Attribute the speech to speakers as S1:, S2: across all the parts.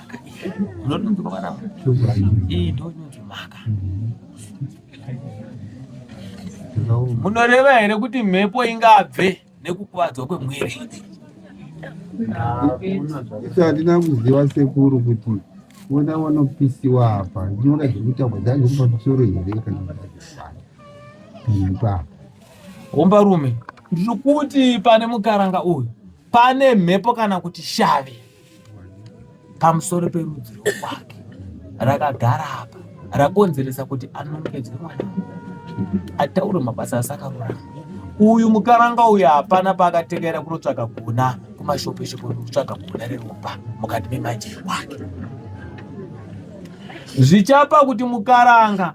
S1: maka unodonzwa mwana iyi ndo inonzi maka munoreva here kuti mhepo ingabve nekukuvadzwa kwemwiri
S2: isi handina kuziva sekuru kuti vona vanopisiwa apa ndinoda zvekutaurwa dzange pamusoro here kana kuaa homba
S1: rume ndiri kuti pane mukaranga uyu pane mhepo kana kuti shavi pamusoro perudzi rwokwake rakagara apa rakonzeresa kuti anongedzwe mwana ataure mabasa asakarurama uyu mukaranga uyu hapana paakatekera kunotsvaga guna kumashopeshopo nokutsvaga guna reropa mukati memajeri wake zvichapa kuti mukaranga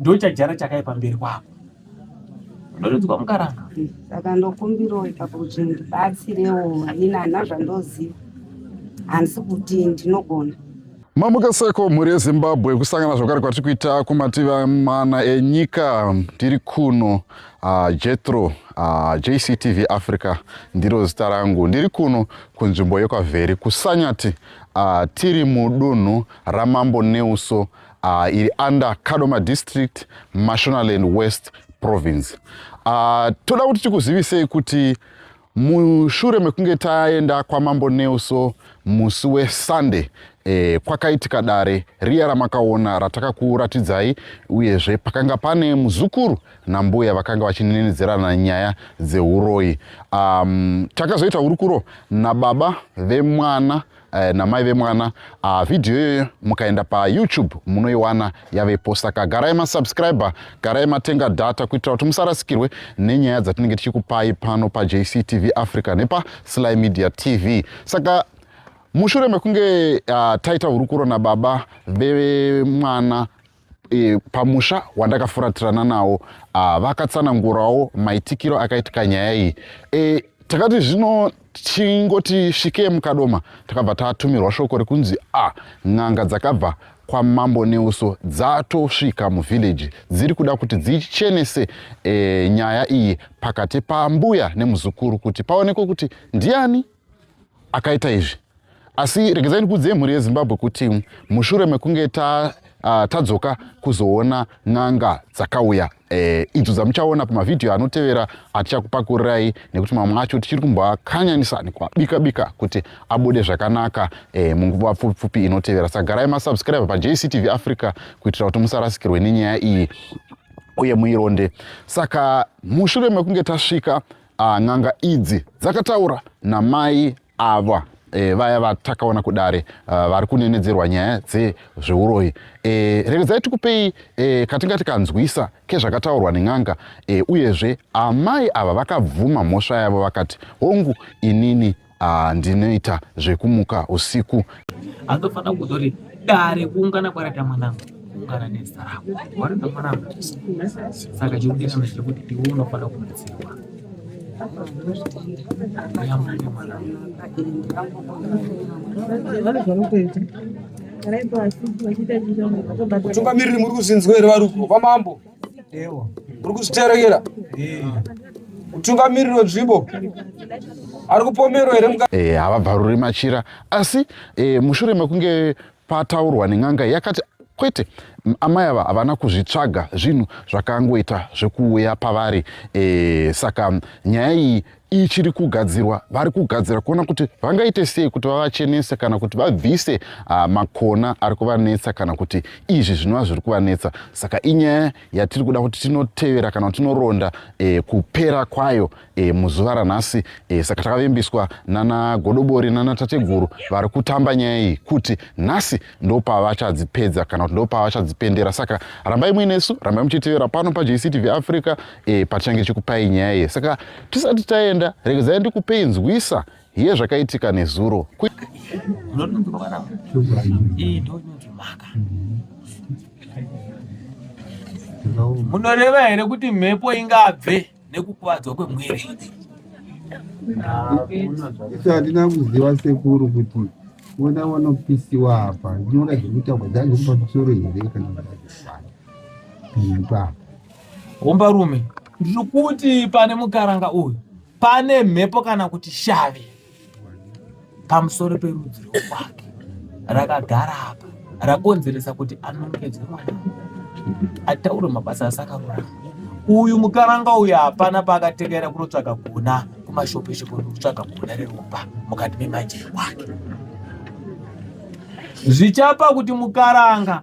S1: ndochajara chakaye pamberi kwako ndoredzwa mukaranga saka ndokumbirawo
S3: ipapo kuti ndibatsirewo ini hana zvandoziva handisi kuti ndinogona mamuka
S4: seko mhuri yezimbabwe kusangana zvakare kwatiri kuita kumativi mana enyika tiri kuno uh, jetro uh, ah, jctv africa ndiro zita rangu ndiri kuno kunzvimbo yekwavheri kusanyati uh, tiri mudunhu ramambo neuso uh, iri under kadoma district mashonaland west province uh, toda kuti tikuzivisei kuti mushure mekunge taenda kwamambo nelso musi wesunday e, kwakaitika dare riya ramakaona ratakakuratidzai uyezve pakanga pane muzukuru nambuya vakanga vachinenedzerana nyaya dzeuroyi um, takazoita hurukuro nababa vemwana eh, namai vemwana uh, vhidhiyo iyoyo mukaenda payoutube munoiwana yavepo saka garai masubscriber garai matenga data kuitira kuti musarasikirwe nenyaya dzatinenge tichikupai pano pajctv africa nepasly media tv saka mushure mekunge uh, taita hurukuro nababa vemwana e, pamusha wandakafuratirana nawo ah, vakatsanangurawo maitikiro akaitika nyaya iyi e, takati zvino tingoti svikei mukadoma takabva tatumirwa shoko rekunzi a ah, n'anga dzakabva kwamambo neuso dzatosvika muvhillaji dziri kuda kuti dzichenese e, nyaya iyi pakati pambuya nemuzukuru kuti paonekwe kuti ndiani akaita izvi asi regedzai ndikuudzei mhuri yezimbabwe kuti mushure mekunge ta uh, tadzoka kuzoona n'anga dzakauya eh, idzo dzamuchaona pamavhidhiyo anotevera atichakupakurirai nekuti mamwe acho tichiri kumboakanyanisa nekuabika bika kuti abude zvakanaka eh, munguva pfupi pfupi inotevera saka garai masubscribe pajctv africa kuitira kuti musarasikirwe nenyaya iyi uye muironde saka mushure mekunge tasvika Ah, n'anga idzi dzakataura namai ava e, vaya vatakaona kudare uh, vari kunenedzerwa nyaya dzezveuroyi e, eh, regedzai tikupei e, katinga tikanzwisa kezvakataurwa nen'anga e, uyezve amai ava vakabvuma mhosva yavo vakati hongu inini Ah, ndinoita zvekumuka usiku. Andofanira
S1: kutori dare kuungana kwaraita mwanangu kuungana nezita rako warida mwanangu saka chekudira ndechekuti iwe unofanira kubatsirwa
S5: Kutungamiriri muri kuzinzwa here vari uko kwamambo? uri kuzviterekera mutungamiriri wenzvimbo ari kupomerwa here eh, havabvaruri machira
S4: asi eh, mushure mekunge pataurwa nen'anga yakati kwete amai ava havana kuzvitsvaga zvinhu zvakangoita zvekuuya pavari e, saka nyaya iyi ichiri kugadzirwa vari kugadzira kuona kuti vangaite sei kuti vavachenese kana kuti vabvise uh, makona ari kuvanetsa kana kuti izvi zvinova zviri kuvanetsa saka inyaya yatiri kuda kuti tinotevera kana kuti tinoronda eh, kupera kwayo eh, muzuva ranhasi eh, saka takavimbiswa nana godobori nana tateguru vari kutamba nyaya iyi kuti nhasi ndopavachadzipedza kana kuti ndopavachadzipendera saka rambai muinesu rambai muchitevera pano pajctv africa e, patichange tichikupai nyaya iye saka tisati taenda regedzai ndikupei nzwisa hiye zvakaitika nezuro
S1: munoreva here kuti mhepo ingabve nekukuvadzwa
S2: kwemwiri
S1: isu hatina
S2: kuziva sekuru kuti vona vanopisiwa apa nyora zvekutaurwa dzazi pamusoro here kana kuipa homba
S1: rume ndiri kuti pane mukaranga uyu pane mhepo kana kuti shavi pamusoro perudzi rwokwake rakagara apa rakonzeresa kuti anongedzwe mwana ataure mabasa asakarurama uyu mukaranga uyu hapana paakatekera kunotsvaka gona kumashopeshopo nekutsvaga gona reropa mukati memanje wake zvichapa kuti mukaranga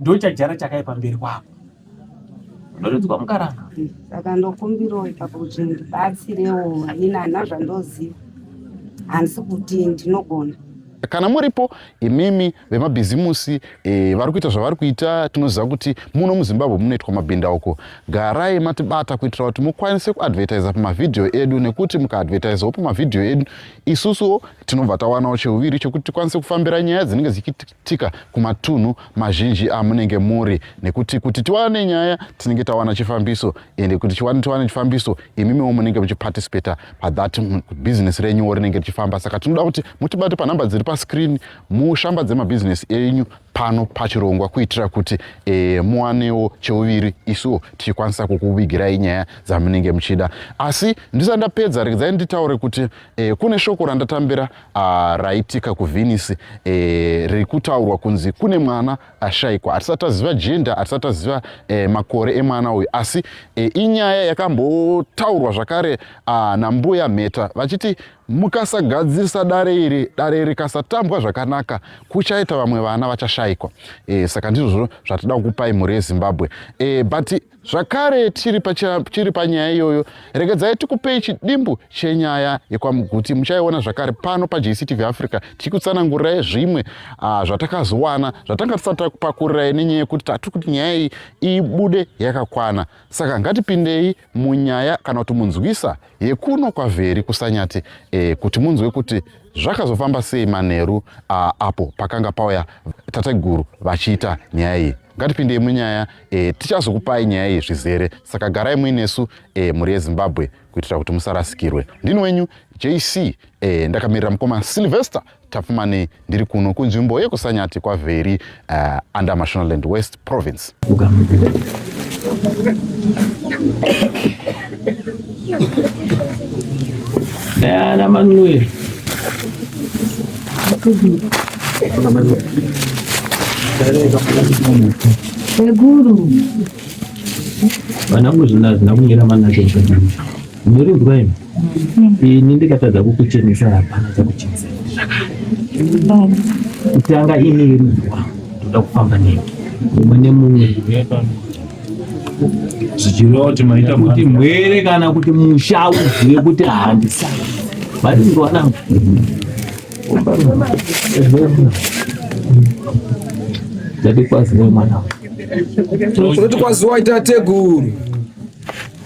S1: ndochajara chakaye pamberi kwako ndoredzwa mukaranga saka ndokumbirawo
S3: ipapo kuti ndibatsirewo ini hana zvandoziva handisi kuti ndinogona kana muripo
S4: imimi vemabhizimusi e, vari kuita zvavari kuita tinoziva kuti muno muzimbabwe munoitwa mabhindauko garai matibata kuitira kuti mukwanise kuadvertisa pamavhidhiyo edu nekuti mukaadvertisawo pamavhidhiyo edu isusuwo tinobva tawanawo cheuviri chekuti tikwanise kufambira nyaya dzinenge dzichiitika kuitika kumatunhu mazhinji amunenge muri nekuti kuti tiwane nyaya tinenge tawana chifambiso ende kuti chiwane tiwane chifambiso imimiwo munenge muchiparticipata pathat bhizinesi renyuwo rinenge richifamba saka tinoda kuti mutibate panhamba dziri pascreen mushambadze mabhizinesi enyu pano pachirongwa kuitira kuti e, muwanewo cheuviri isuwo tichikwanisa kukuvigirai nyaya dzamunenge muchida asi ndisati ndapedza regedzai nditaure kuti e, kune shoko randatambira Ah, raitika kuvenice e, eh, riri kutaurwa kunzi kune mwana ashaikwa hatisati taziva jenda hatisati taziva e, makore emwana uyu asi e, inyaya yakambotaurwa zvakare ah, nambuya mheta vachiti mukasagadzirisa dare iri dare rikasatambwa zvakanaka kuchaita vamwe vana vachashaikwa e, saka ndizvozvo zvatida kukupai mhuri yezimbabwe e, but zvakare tiri tiri panyaya iyoyo regedzai tikupei chidimbu chenyaya yekwamuguti muchaiona zvakare pano pajctv africa tichikutsanangurirai zvimwe ah, zvatakazowana zvatanga tisati takupakurirayi nenyaya yekuti tati kuti nyaya iyi ibude yakakwana saka ngatipindei munyaya kana kuti munzwisa yekuno kwavheri kusanyati e, kuti munzwe kuti zvakazofamba sei manheru ah, apo pakanga pauya tateguru vachiita nyaya iyi ngatipindei munyaya e, tichazokupai nyaya iyi zvizere saka garai muinesu e, mhuri yezimbabwe kuitira kuti musarasikirwe ndini wenyu jc e, eh, ndakamirira mukoma sylvester tapfumanei ndiri kuno kunzvimbo yekusanyati kwavheri uh, under mashonaland west province
S1: Ana Manuel. Ana Manuel.
S6: Seguru.
S1: Vanangu zvina hazvina kumira manacho zvakadini. Muri mvura imi. Ini ndikatadza kukuchenesa hapana chakuchenesa. Kutanga ini iri mvura. Ndoda kufamba nemi. Mumwe nemumwe.
S6: zvichireva kuti maita kuti mwere kana
S1: kuti musha uzive kuti handisa vari ndovanangu ndati kwazive mwana unoti
S5: kwaziwa ita teguru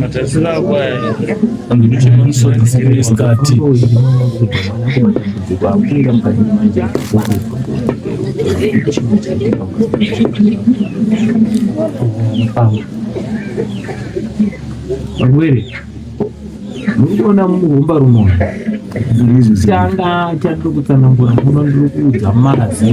S6: Matarisiro ako aya andichemamusoisikati
S1: varwere muri kuona murumba rumoyo changa chandiri kutsanangura muno ndiri kuudza mazi